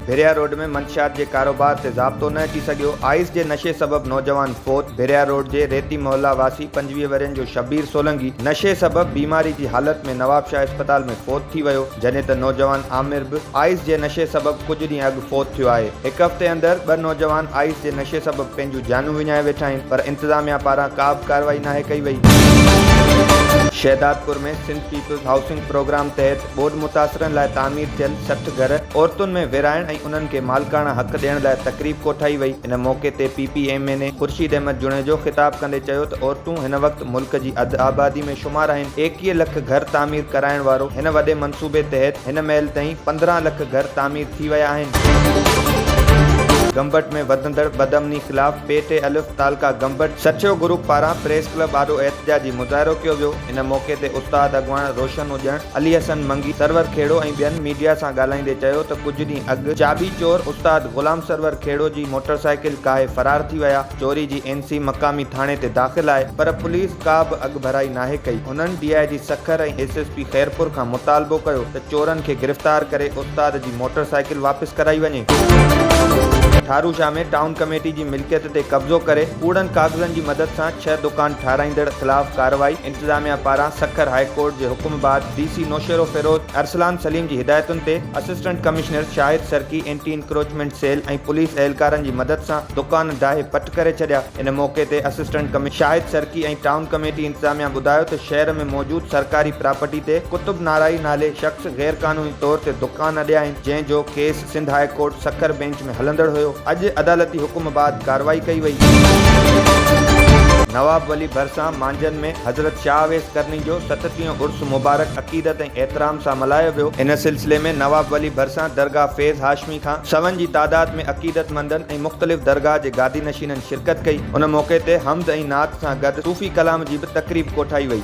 ڀريا road ۾ منشيات جي ڪاروبار تي ضابطو نه اچي سگهيو، آئس جي نشي سبب نوجوان فوت، ڀريا روڊ جي ريتي محلا واسي پنجويهه ورهين جو شبير سولنگي نشي سبب بيماري جي حالت ۾ نوابشاهه اسپتال ۾ فوت ٿي ويو، جڏهن ته نوجوان عامر به آئس جي نشي سبب ڪجهه ڏينهن اڳ فوت ٿيو آهي هڪ هفتي اندر ٻه نوجوان آئس جي نشي سبب پنهنجون جانون وڃائي ويٺا آهن پر انتظاميا پاران ڪابه ڪارروائي ناهي ڪئي وئي. Shahdadpur ۾ Sindh peoples housing programme تحت ٻوڏ متاثرن لاء تعمير ٿيل سٺ گهر عورتن ۾ ورهائڻ ۽ انهن کي مالڪاڻا حق ڏيڻ لاء تقريب ڪوٺائي وئي ان موقعي تي P P M N A Khurshid Ahmed Junejo خطاب ڪندي چيو ته عورتون هن وقت ته ملڪ جي اڌ آبادي ۾ شمار آهن. ايڪيهه لک گهر تعمير ڪرائڻ وارو هن وڏي منصوبي تحت هن مهل تائين پندرهن لک گهر تعمير ٿي ويا آهن. گمبٽ ۾ وڌندڙ بدامني خلاف پي ٽي الف تعلقه گمبٽ سٺيو گروپ پاران پريس ڪلب آڏو احتجاجي مظاهرو ڪيو ويو ان موقعي تي استاد اڳواڻ روشن اڄڻ، علي حسن منگي، سرور کهڙو ۽ ٻين ميڊيا سان ڳالهائيندي چيو ته ڪجهه ڏينهن اڳ چاٻي چور استاد غلام سرور کهڙو جي موٽرسائيڪل ڪاهي فرار ٿي ويا، چوري جي اين سي مقامي ٿاڻي تي داخل آهي پر پوليس ڪا به اڳڀرائي ناهي ڪئي هنن D I G Sukkur ۽ S S P Khairpur کان مطالبو ڪيو ته چورن کي گرفتار ڪري استاد جي موٽر سائيڪل واپس ڪرائي وڃي. ٺارو شاهه ۾ ٽائون ڪميٽي جي ملڪيت تي قبضو ڪري ڪوڙن ڪاغذن جي مدد سان ڇهه دڪان ٺاهرائيندڙ خلاف ڪارروائي انتظاميا پاران سکر هاء ڪورٽ جي حڪم بعد ڊي سي نوشهروفيروز ارسلان سليم جي هدايتن تي assistant commissioner Shahid Sarki anti encroachment cell ۽ police اهلڪارن جي مدد سان دڪان ڊاهي پٽ ڪري ڇڏيا ان موقعي تي assistant commissioner Shahid Sarki ۽ town committee انتظاميا ٻڌايو ته شهر ۾ موجود سرڪاري پراپرٽي تي قطب نارائي نالي شخص غيرقانوني طور تي دڪان اڏيا آهن جنهن جو case Sindh high court Sukkur bench ۾ هلندڙ هيو اڄ عدالتي حڪم بعد ڪارروائي ڪئي وئي. نواب ولي ڀرسان مانجهن ۾ حضرت شاهه اويس قرني جو ستٽيهون عرس مبارڪ عقيدت ۽ احترام سان ملهايو ويو. ان سلسلي ۾ نواب ولي ڀرسان درگاهه فيض هاشمي کان سون جي تعداد ۾ عقيدت مندن ۽ مختلف درگاهه جي گادي نشينن شرڪت ڪئي. ان موقعي تي حمد ۽ نعت سان گڏ صوفي ڪلام جي به تقريب ڪوٺائي وئي.